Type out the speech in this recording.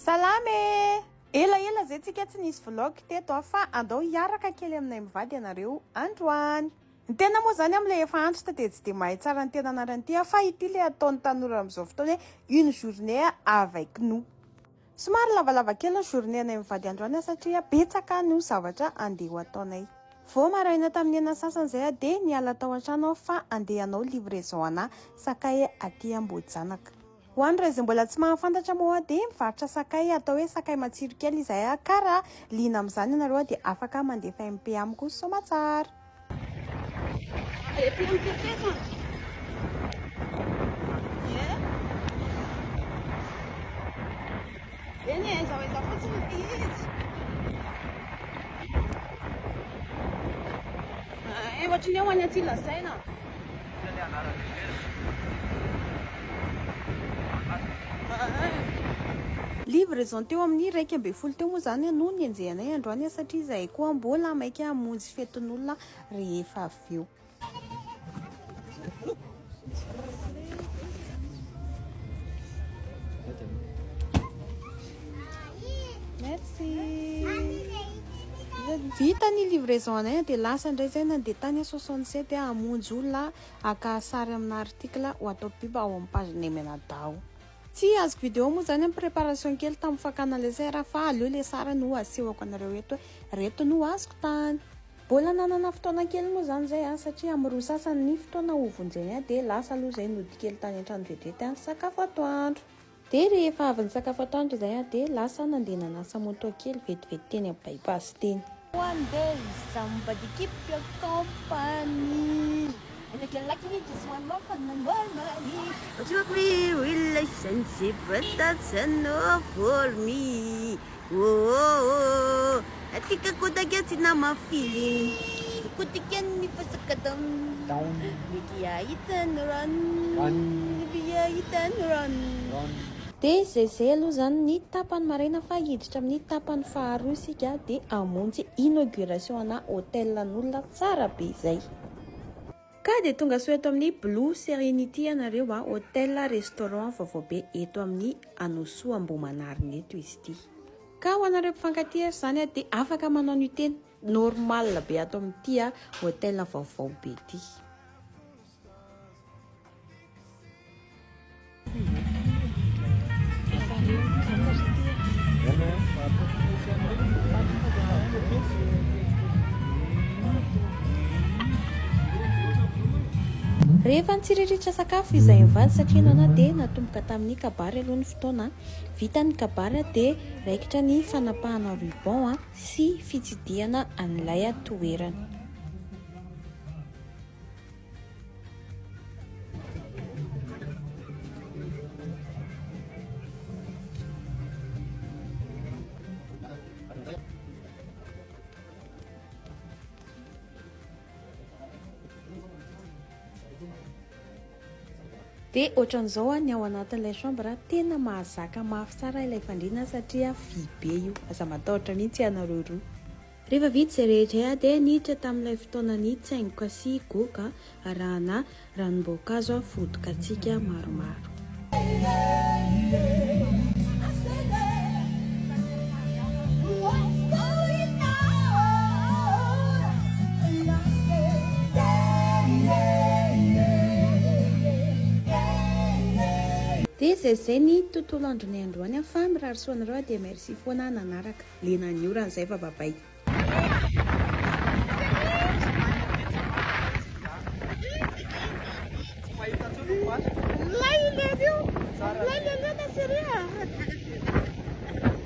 Salama e! Ela ela zay tsika tsy nisy vlog teto a fa andao hiaraka kely aminay mivady ianareo androany. Ny tena moa zany amle efa antitra dia tsy dia mahay tsara ny tena anarany ity a fa ity le ataon'ny tanora amin'izao fotoana hoe une journée avec nous. Somary lavalava kely ny journée anay mivady androany a satria betsaka no zavatra andeha ho ataonay. Vao maraina tamin'ny enina sasany zay a dia niala tao antrano aho fa andeha hanao livraison ana sakay aty Ambohijanaka. Ho an'ireo izay mbola tsy mahafantatra moa dia mivarotra sakay atao hoe sakay matsiro kely izahay ka raha liana amin'izany ianareo dia afaka mandefa MP amiko soamatsara. Livraison teo amin'ny iraika ambin'ny folo teo moa izany no nienjehanay androany satria izahay koa mbola maika hamonjy fetin'olona rehefa avy eo. Merci. Vita ny livraison anay dia lasa indray izay nandeha tany soixante sept hamonjy olona haka sary amina article ho atao pub ao amin'ny page ny Menadao. Tsy azoko vidéo moa izany amin'ny préparation kely tamin'ny fakana ilay sera fa aleo ilay sary no asehoko anareo eto hoe ireto no azoko tany. Mbola nanana fotoana kely moa izany izay aho satria amin'ny roa sasany ny fotoana hovonjeny ahy dia lasa aloha izay nody kely tany an-trano vetivety sakafo atoandro. Dia rehefa avy nisakafo atoandro izahay an, dia lasa nandeha nanasa moto kely vetivety teny amin'ny bypass teny. One day somebody keep your company. And if you like me just one more for the more money. Took me real license but that's enough for me. Oh oh oh Atika kotakia tsy nama feeling Kotakia ny fasaka down Mety hahita ny rano Mety hahita ny rano Dia zay zay aloha zany ny tapany maraina fa hiditra amin'ny tapany faharoa isika dia hamonjy inauguration ana hotel an'olona tsara be zay. Ka dia tongasoa eto amin'ny Blue Serenity ianareo a! Hotel Restaurant vaovao be eto amin'ny Anosoa Ambohimanarina eto izy ity. Ka ho anareo mpifankatia ary izany a dia afaka manao nuitée normale be ato amin'ity hotel vaovao be ity. Rehefa nitsiriritra sakafo izahay mivady satria nana dia natomboka tamin'ny kabary aloha ny fotoana. Vita ny kabary dia raikitra ny fanapahana ruban sy fitsidihana an'ilay toerana. Dia ohatran'izao ah, ny ao anatin'ilay chambre ah, tena mahazaka mafy tsara ilay fandriana satria vy be io. Aza matahotra mihitsy ianareo roa. Rehefa vita izay rehetra aho dia niditra tamin'ilay fotoana nitsaingoka sy goka arahana ranom-boankazo aho fody katsika maromaro. Dia izay izay ny tontolo andronay androany fa mirary soa anareo dia merci foana nanaraka. Lena ny orana zay fa babay.